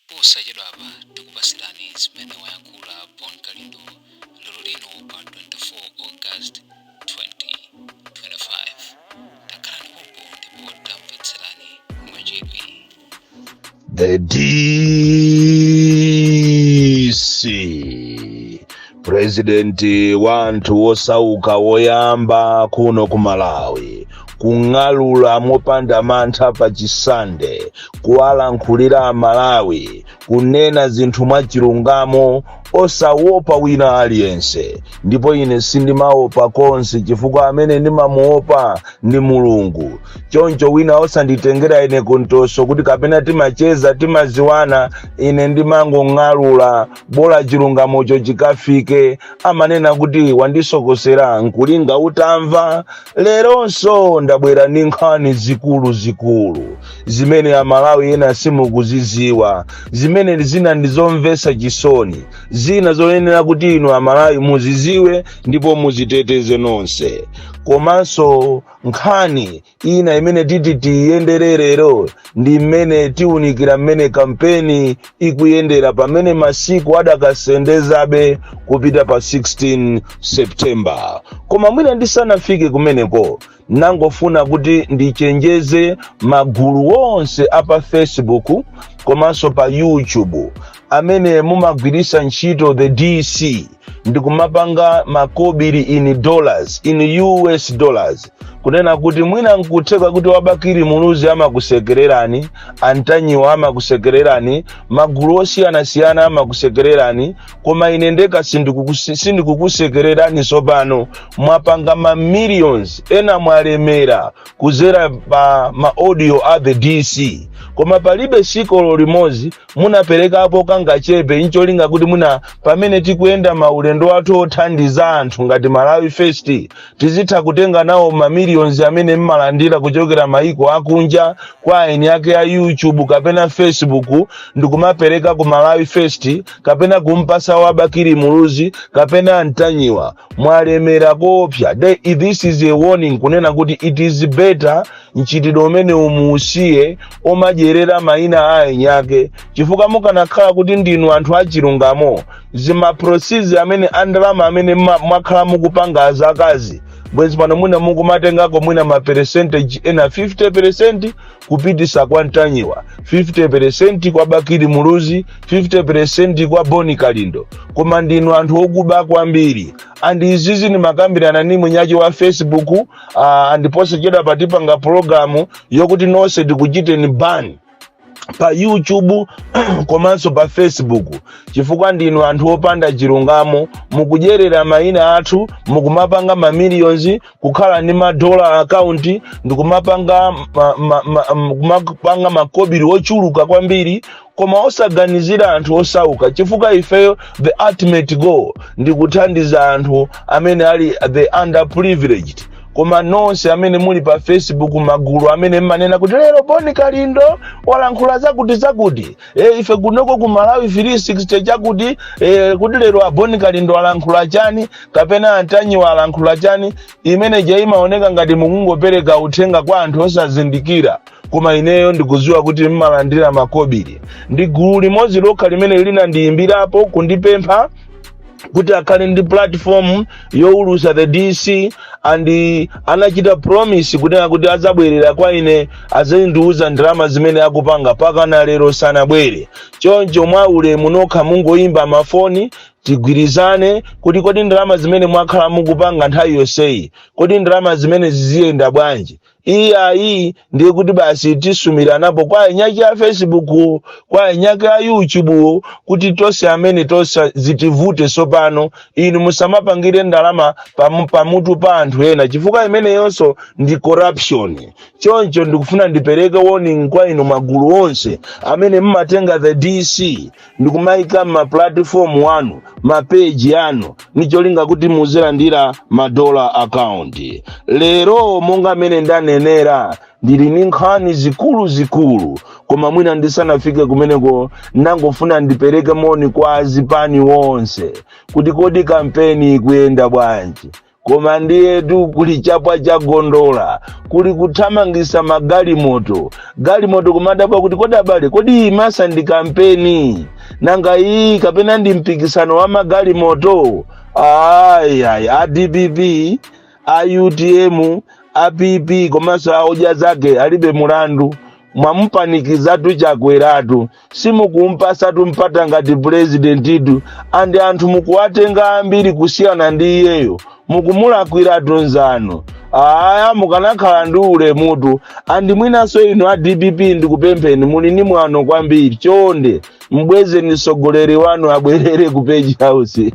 Posachedwapa tikupasirani zimene wayankhula Bon Kalindo lero lino pa 24 August 2025. Takhalani pompo ndipo tamvetserani mwachidwi. The DC purezidenti wa anthu osauka woyamba kuno ku malawi kung'alula mopanda mantha pa chisande kuwalankhulira amalawi kunena zinthu mwachilungamo osawopa wina aliyense ndipo ine sindimawopa konse chifukwa amene ndimamuwopa ndi mulungu choncho wina osanditengera ine kuntoso kuti kapena timacheza timaziwana ine ndimangong'alula bola chilungamocho chikafike amanena kuti wandisokosera nkulinga utamva leronso ndabwera ndi nkhani zikulu zikulu zimene amalawi ena simukuziziwa zimene zina ndizomvesa chisoni zina zoyenera kuti inu amalawi muziziwe ndipo muziteteze nonse komanso nkhani Ina imene titi tiyendere lero ndi mmene tiunikira mmene kampeni ikuyendera pamene masiku adakasendezabe kupita pa 16 September. Koma mwina ndisanafike kumeneko nangofuna kuti ndichenjeze magulu onse a pa Facebook komanso pa YouTube amene mumagwiritsa ntchito the DC ndikumapanga makobiri in dollars in us dollars kunena kuti mwina nkutheka kuti wa bakili muluzi amakusekererani antanyiwa amakusekererani magulu osiyanasiyana amakusekererani koma ine ndekha sindikukusi- sindikukusekererani tsopano mwapanga ma millions ena mwalemera kuzera pa ma audio a the dc koma palibe siku limodzi munaperekapo kangachepe ncholinga kuti mwina pamene tikuyenda maulendo athu othandiza anthu ngati malawi first tizitha kutenga nawo mamiliyonzi amene mmalandira kuchokera maiko akunja kwa eni ake a youtube kapena facebook ndikumapereka ku malawi first kapena kumpasa wa bakili muluzi kapena antanyiwa mwalemera koopsa thi- this is a warning kunena kuti it is better mchitidwe umeneu muusiye omadyerera maina a eni ake chifukwa mukanakhala kuti ndinu anthu achilungamo zimaproceeds amene andalama amene mma- mwakhala mukupanga zakazi bwezi pano mwina mukumatengako mwina maperesentegi ena 50 peresenti kupitisa kwa ntanyiwa 50% kwa bakili muluzi 50% kwa boni kalindo koma ndinu anthu okuba kwambiri and izizi ndimakambirana ni munyaji wa facebook uh, and posachedwapa tipanga pulogalamu yokuti nonse tikuchiteni ban pa youtube komanso pa facebook chifukwa ndinu anthu opanda chilungamo mukudyerera mayina athu mukumapanga mamiliyonzi kukhala ndi madola akaunti ndikumapanga ma, ma, ma, m- kumapanga makobiri ochuluka kwambiri koma osaganizira anthu osauka chifukwa ifeyo the ultimate goal ndi kuthandiza anthu amene ali the underprivileged koma nonse amene muli pa facebook magulu amene mmanena kuti lero boni kalindo walankhula zakuti zakuti e, ife kunoko ku malawi 360 chakuti e, kuti lero aboni kalindo alankhula chani kapena antanyiwa alankhula chani imene ija imaoneka ngati mukungopereka uthenga kwa anthu osazindikira koma ineyo ndikudziwa kuti mmalandira makobiri ndi gulu limodzi lokha limene linandiyimbirapo kundipempha kuti akhale ndi platform yowulusa the dc and anachita promise kunena kuti adzabwerera kwa ine azandiuza ndalama zimene akupanga pakana lero sanabwere choncho mwa ulemu nokha mungoyimba mafoni tigwirizane kuti kodi ndalama zimene mwakhala mukupanga nthawi yonseyi kodi ndalama zimenezi ziyenda bwanji iyayi ndiye kuti basi tisumiranapo kwa eni ake a facebook kwa eni ake a youtube kuti tonse amene tonse zitivute tsopano inu musamapangire ndalama pamu- pamutu pa anthu ena chifukwa imeneyonso ndi corruption choncho ndikufuna ndipereke warning kwa inu magulu onse amene mmatenga the dc ndikumaika mmapulatifomu wanu mapeji anu nicholinga kuti muzilandira madola akaunti lero monga mmene ndanenera ndili ni nkhani zikuluzikulu koma mwina ndisanafike kumeneko ndangofuna ndipereke moni kwa azipani wonse kuti kodi kampeni ikuyenda bwanji koma ndiyetu kuli chapwa cha gondola kuli kuthamangisa magalimoto galimoto kumadabwa kuti kodi abale kodi iyi masa ndi kampeni nanga iyi kapena ndi mpikisano wa magalimoto ayayi a dpp a utm a pp komanso a odya zake alibe mulandu mwamupanikizatu chakweratu simukumpasatu mpata ngati pulezidentitu andi anthu mukuwatenga ambiri kusiyana ndi iyeyo mukumulakwiratu nzanu aya mukanakhala ndi ulemutu andi mwinanso inu a dpp ndikupempheni muli ndi mwano kwambiri chonde mbwezeni mtsogoleri wanu abwerere ku page house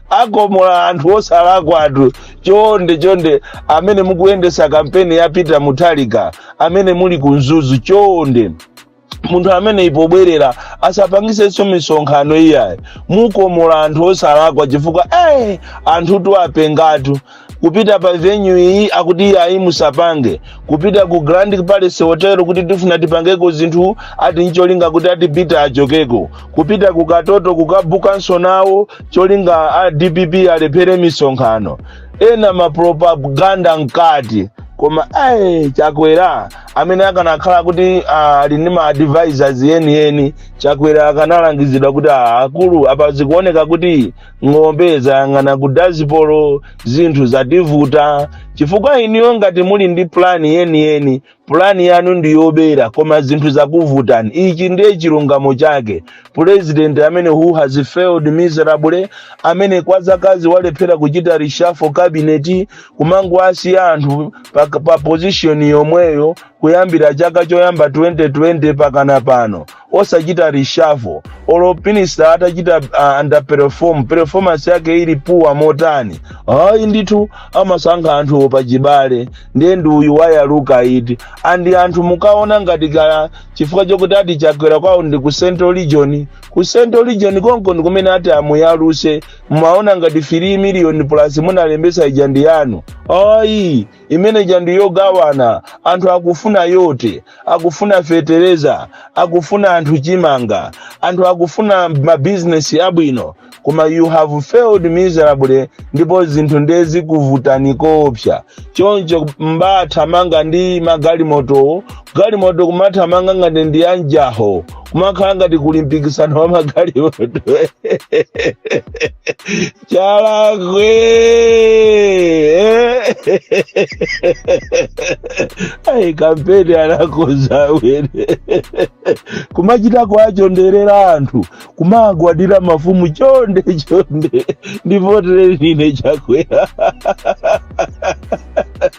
akomola anthu osalakwatu chonde chonde amene mukuyendesa kampeni ya peter muthalika amene muli ku mzuzu chonde munthu ameneyi pobwerera asapangisenso misonkhano iyayi mukomola anthu osalakwa chifukwa eh, anthu ndi openga tu kupita pa venue iyi akuti iyayi musapange kupita ku grand palace hotel kuti tifuna tipangeko zinthu ati ncholinga kuti ati peter achokeko kupita ku katoto kukabukanso nawo cholinga a dpp alephere misonkhano ena mapropaganda mkati koma ayi chakwera amene akanakhala kuti ah, ali ndi ma advisors enieni chakwera akanalangizidwa kuti ah, akulu apa zikuoneka kuti ng'ombe zayang'ana ku dazibomu zinthu zakuvutani chifukwa inuyo ngati muli ndi plani yeniyeni pulani yanu ndi yobera koma zinthu zakuvutani ichi ndiye chilungamo chake pulezidenti amene who has failed miserably amene kwa zakazi walephera kuchita reshuffle kabineti kumangoasiya anthu pa, pa pozishoni yomweyo kuyambira chaka choyamba 2020 mpakana pano osachita reshuffle olo minister atachita uh, underperform performance yake ili puwa motani ayi ndithu amasankha anthu pachibale ndiye ndi uyu wayalukayitu andi anthu mukaona ngati kaya chifukwa chokuti ati chakwera kwawo ndi ku central region ku central region konko ndi kumene ati amuyaluse mumaona ngati 3 million plus munalembesa ija ndi yanu ayi imene ijatu ndi yogawana anthu akufuna voti akufuna fetereza akufuna anthu chimanga anthu akufuna mabizinesi abwino koma you have failed miserably ndipo zinthu ndiye zikuvutani koopsa choncho nkumathamanga ndi magalimotowo galimoto kumathamanga ngati ndi anjaho kumakhala ngati kuli mpikisano wa magalimoto Chalakwe! Ai, kampeni anakonza amene kumachita kuachonderera anthu kumagwadira mafumu chonde chonde ndivotere ndine chakwera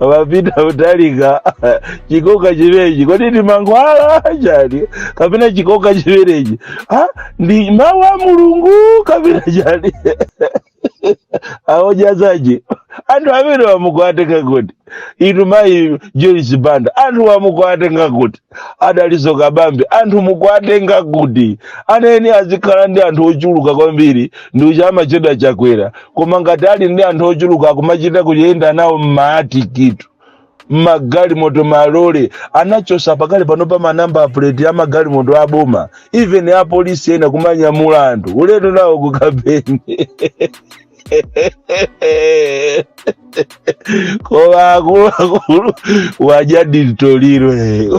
a peter muthalika chikoka chimenechi kodi ndi mankhwala chani kapena chikoka chimenechi Ah, ndi mawu a mulungu kapena chani aodzazatu anthu amenewa mukuatenga kuti inu mayi joyce banda anthuwa mukuatenga kuti a Dalitso Kabambe anthu mukuwatenga kuti aneni azikhala ndi anthu ochuluka kwambiri ndiye uchamachedwa chakwera koma ngati ali ndi anthu ochuluka akumachita kuyenda nawo mmaatikitu mmagalimoto malole anachosa pakadali pano pa manamba apuleti a magalimoto aboma even apolisi ena kumanyamula anthu ulendo nawo kukampeni koma akuluakulu waja dilitoliro eh.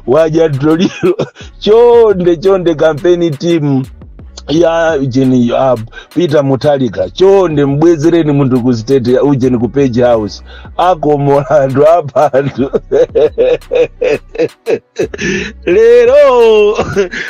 waja dilitoliro chonde chonde kampeni timu ya ujeni ya peter mutharika chonde mbwezereni munthu ku state ya ujeni ku page house ako mulandu abantu lero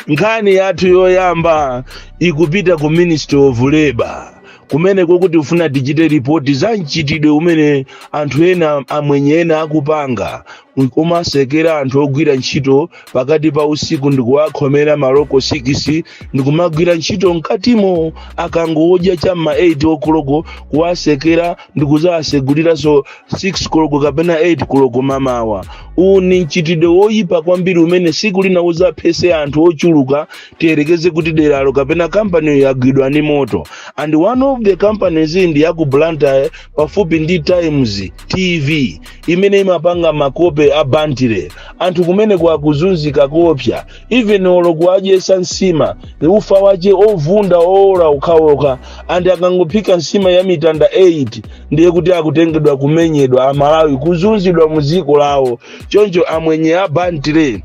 nkhani yathu yoyamba ikupita ku ministry of labor kumene kokuti ufuna digital ripoti za mchitidwe umene anthu ena amwenye ena akupanga kumasekera anthu ogwira ntchito pakati pa usiku ndikuwakhomera maloko 6 ndikumagwira ntchito mkatimo akangodya cha ma 8 okoloko kuwasekera ndikuzawaseguliranso 6 koloko kapena 8 koloko mamawa uwu ni mchitidwe woyipa kwambiri umene siku lina uzaphese anthu ochuluka tiyerekeze kuti deralo kapena kampaniyo yagwidwa ndi moto and one of the companies ndi ya ku blantyre pafupi ndi times tv imene imapanga makope a bantire anthu kumeneko akuzunzika koopsa even olo kuwadyesa nsima ufa wache ovunda owola okhaokha and akangophika nsima ya mitanda 8 ndiye kuti akutengedwa kumenyedwa amalawi kuzunzidwa mu dziko lawo choncho amwenye a bantire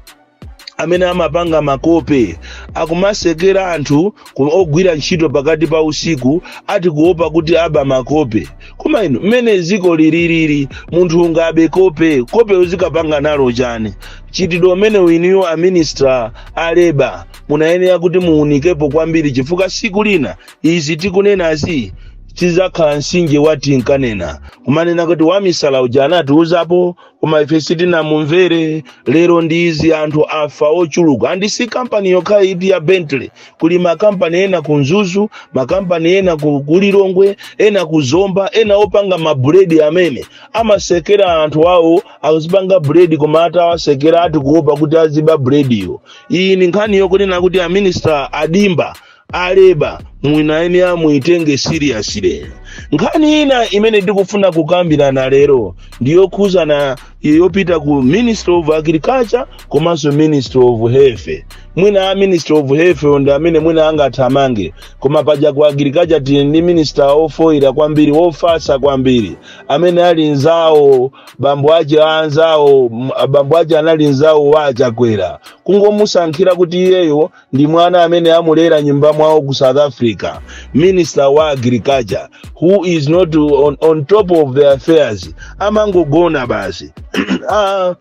amene amapanga makope akumasekera anthu ogwira ntchito pakati pa usiku ati kuopa kuti aba makope koma inu mmene dziko lililili munthu ungabe kope kope uzikapanga nalo chani mchitidwe umenewu inuyo a minister a leba munayenera kuti muunikepo kwambiri chifukwa siku lina izi tikunenazi zidzakhala nsinje wa tinkanena kumanena kuti wamisala uja anatiuzapo koma ife sitinamumvere lero ndi izi anthu afa ochuluka andi si kampani yokhayi iti ya bantire kuli makampani ena ku mzuzu makampani ena ku ku lilongwe ena ku zomba ena opanga mabuledi amene amasekera anthu awo akuzipanga buledi koma atawasekera ati kuopa kuti aziba bulediyo iyi ni nkhani yokunena kuti aminista a Dimba aleba munayenera muyitenge seriously nkhani ina imene ndikufuna kukambirana lero ndiyokhuzana yopita ku ministry of agriculture komanso ministry of health mwina a ministry of health ndi amene mwina angathamange koma paja ku agriculture tili ndi minister ofoyira kwambiri ofasa kwambiri amene ali nzawo bambo ache anzawo m- bambo ache anali nzawo wa achakwera kungomusankhira kuti iyeyo ndi mwana amene amulera nyumba mwawo ku south africa minister wa agriculture who is not on, on top of the affairs amangogona basi ah,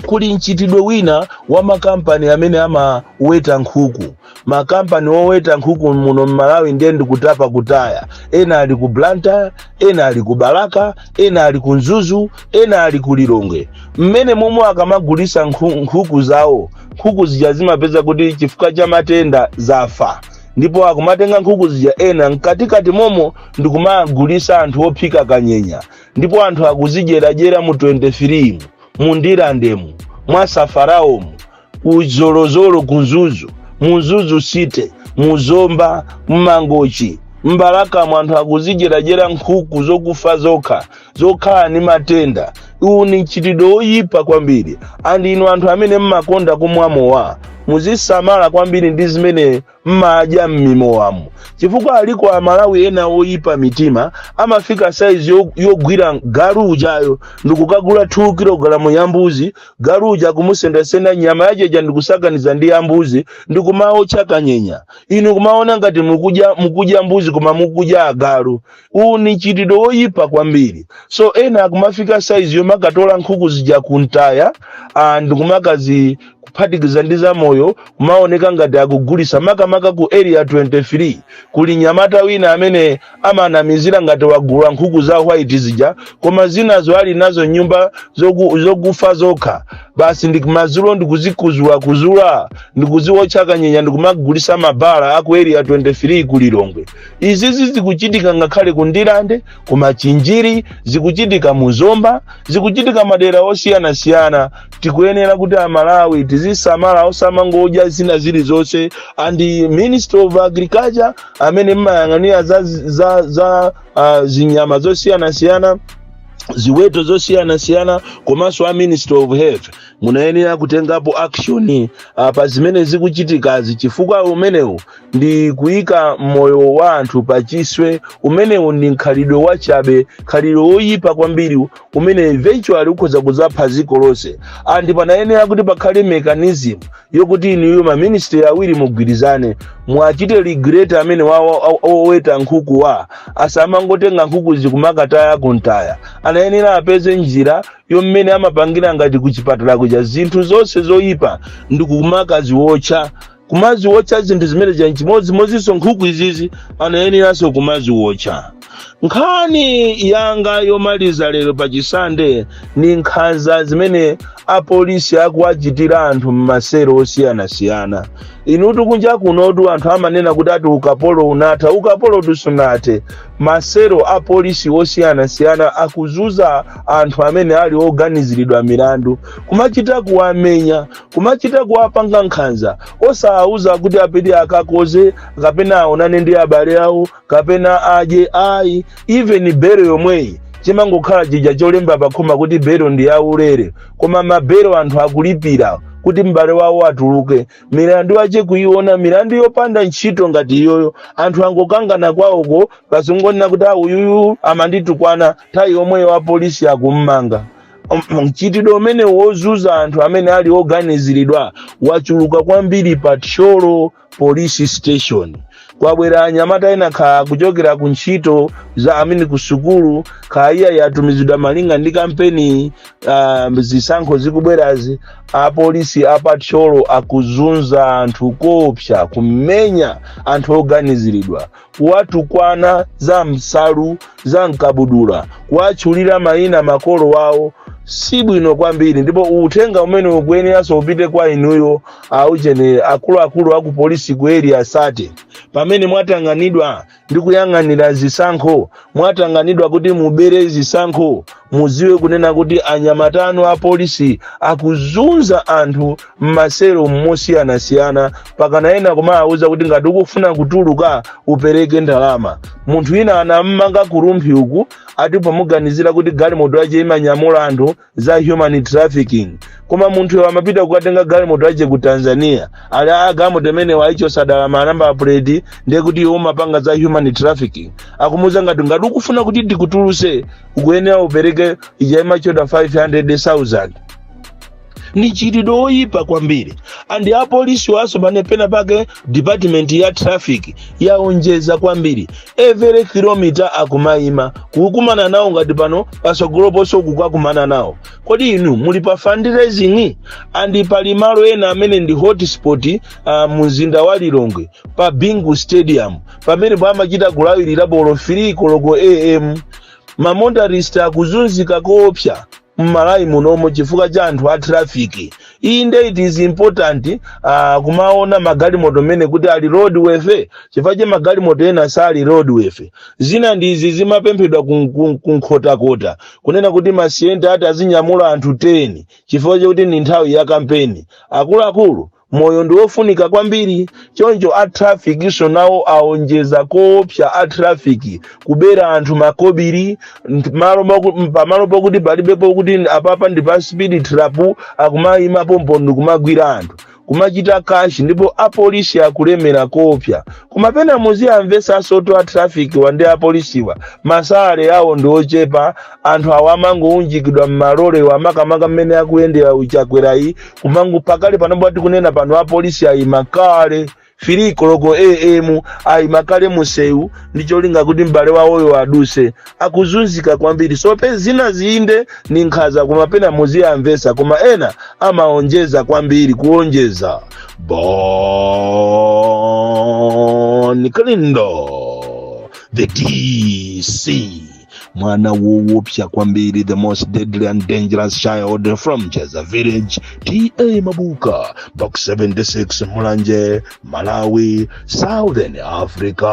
kuli mchitidwe wina wa makampani amene amaweta nkhuku makampani oweta nkhuku muno mmalawi ndiye ndikutapa kutaya ena ali ku blantyre ena ali ku balaka ena ali ku mzuzu ena ali ku lilongwe mmene momwe akamagulisa nkhu- nkhuku zawo nkhuku zija zimapezeka kuti chifukwa cha matenda zafa ndipo akumatenga nkhuku zija ena mkatikati momo ndikumagulisa anthu ophika kanyenya ndipo anthu akuzidyeradyera mu 23 mu mu ndirandemu mwa safaraomu ku zolozolo ku mzuzu mu mzuzu city mu zomba mmangochi mbalakamu anthu akuzidyeradyera nkhuku zokufa zokha zokhala ndi matenda uwu ni mchitidwe woyipa kwambiri andi inu anthu amene mmakonda kumwa mowa muzisamala kwambiri ndi zimene mmadya m'mimowamu chifukwa aliko amalawi ena oyipa mitima amafika saizi yo- yogwira galu ujayo ndikukagula 2 kilogalamu ya mbuzi galu uja kumusendasenda nyama yacheja ndikusakaniza ndi ya mbuzi ndikumaotcha kanyenya inu kumaona ngati mukudya mukudya mbuzi koma mukudya agalu uwu ni mchitidwe woyipa kwambiri so ena akumafika saizi yomakatola nkhuku zija kuntaya ah, ndikumakazi kuphatikiza ndi zamoyo kumaoneka ngati akugulisa makamaka ku area 23 kuli nyamata wina amene amanamizira ngati wagula nkhuku za white zija koma zinazo ali nazo mnyumba zoku- zokufa zokha basi ndikumazulo ndikuzikuzula kuzula ndikuziwotcha kanyenya ndikumagulisa mmabala aku area 23 ku lilongwe izizi zikuchitika ngakhale ku ndirande ku machinjiri zikuchitika mu zomba zikuchitika madera osiyanasiyana tikuyenera kuti amalawi tizisamala osamangodya zina zilizonse and the ministry of agriculture amene mmayang'anira za, za, za uh, zinyama zosiyanasiyana ziweto zosiyanasiyana komanso a ministry of health munayenera kutengapo action uh, pa zimene zikuchitikazi chifukwa umenewu ndi kuyika moyo wa anthu pa chiswe umenewu ndi mkhalidwe wachabe mkhalidwe woyipa kwambiri umene eventually ukhoza kudzapha dziko lonse and panayenera kuti pakhale mechanism yokuti inuyo maministry awiri mugwirizane mwachite regulate amene wa- wa- wa- oweta nkhuku wa asamangotenga nkhuku ndikumakataya kumtaya anayenera apeze njira yommene amapangira ngati kuchipatala kuja zinthu zonse zoyipa ndi kumakaziwotcha kumaziwotcha zinthu zimene zija nchimodzimodzinso nkhuku izizi anayeneranso kumaziwotcha nkhani yanga yomaliza lero pa chisande ni nkhanza zimene apolisi akuwachitira anthu m'masero osiyanasiyana inutu kunja kunotu anthu amanena kuti ati ukapolo unatha ukapolo tu sunathe masero apolisi osiyanasiyana akuzunza anthu amene ali oganiziridwa milandu kumachita kuwamenya kumachita kuwapanga nkhanza osawauza kuti apite akakodze kapena aonane ndi abale awo kapena adye ayi even bero yomweyi chimangokhala chija cholemba pakhoma kuti bero ndi yaulere koma mabero anthu akulipira kuti m'bale wawo atuluke milandu yache kuiona milandu yopanda ntchito ngati iyoyo anthu angokangana kwawoko basi kungonena kuti auyuyu amanditukwana nthawi yomweyo apolisi akummanga Um, mchitidwe umene wozunza anthu amene ali oganiziridwa wachuluka kwambiri pa thyolo police station kwabwera anyamata ena kaya kuchokera ku ntchito za i mean ku sukulu kaya atumizidwa malinga ndi kampeni um, zisankho zikubwerazi apolisi a pa thyolo akuzunza anthu koopsa kumenya anthu oganiziridwa kuwatukwana za m'nsalu za m'kabudula kuwatchulira mayina makolo awo si bwino kwambiri ndipo uthenga umene ukuyeneranso upite kwa inuyo a ujeni akuluakulu aku polisi ku area 30 pamene mwatanganidwa ndi kuyang'anira zisankho mwatanganidwa kuti mubere zisankho mudziwe kunena kuti anyamata anu a polisi akuzunza anthu m'maselo mosiyanasiyana mpakana ena kumawauza kuti ngati ukufuna kutuluka upereke ndalama munthu wina anammanga ku rumphi uku ati pomuganizira kuti galimoto yace imanyamula anthu za human trafficking koma munthuyo amapita kukatenga galimoto yace ku tanzania ali a galimoto imeneyo anayichotsa dala manamba apuleti ndiye kuti iwo amapanga za human trafficking akumuuza ngati ngati ukufuna kuti tikutuluse ukuyenera upereke ujeni ma 500000 ni mchitidwe oyipa kwambiri andi apolisiwaso pamene pena pake department ya traffic yaonjeza kwambiri every kilomita akumayima kukumana nawo ngati pano pasogolo ponse uku kukakumana nawo kodi inu muli pa fundraising andi pali malo ena amene ndi hotspot uh, mu mzinda wa lilongwe pa bingu stadium pamene pamachita kulawirira pa olo 3 koloko am ma motorist akuzunzika koopsa mMalawi munomo chifukwa cha anthu a traffic inde it is important uh, kumaona magalimoto mmene kuti ali roadworthy chifukwa choti magalimoto ena sali roadworthy zina ndi izi zimapemphedwa kun- kun- Kunkhotakota kunena kuti ma Sienta ati azinyamula anthu 10 chifukwa chakuti ndi nthawi ya kampeni akuluakulu moyo ndi wofunika kwambiri choncho a traffic so nawo aonjeza koopsa a traffic kubera anthu makobiri nt- malo moku- pamalo pokuti palibe pokuti apapa ndi pa speed trap akumayima pompo ndi kumagwira anthu kumachita kashi ndipo apolisi akulemera koopsa koma pena muziwamvesa asoto a trafficwa ndi apolisiwa ma salary awo ndi ochepa anthu awa amangounjikidwa m'malolewa makamaka mmene akuyendera a Chakwerayi kumangoti pakali panopo ati kunena pano apolisi ayima kale 3 koloko am ayima kale musewu ndi cholinga kuti m'bale wawoyo aduse akuzunzika kwambiri so pena zinazi inde ni nkhaza koma pena muziwamvesa koma ena amaonjeza kwambiri kuonjeza Bon Kalindo the DC mwana woopsa kwambiri the most deadly and dangerous child from jeza village ta mabuka box 76 mulanje malawi southern africa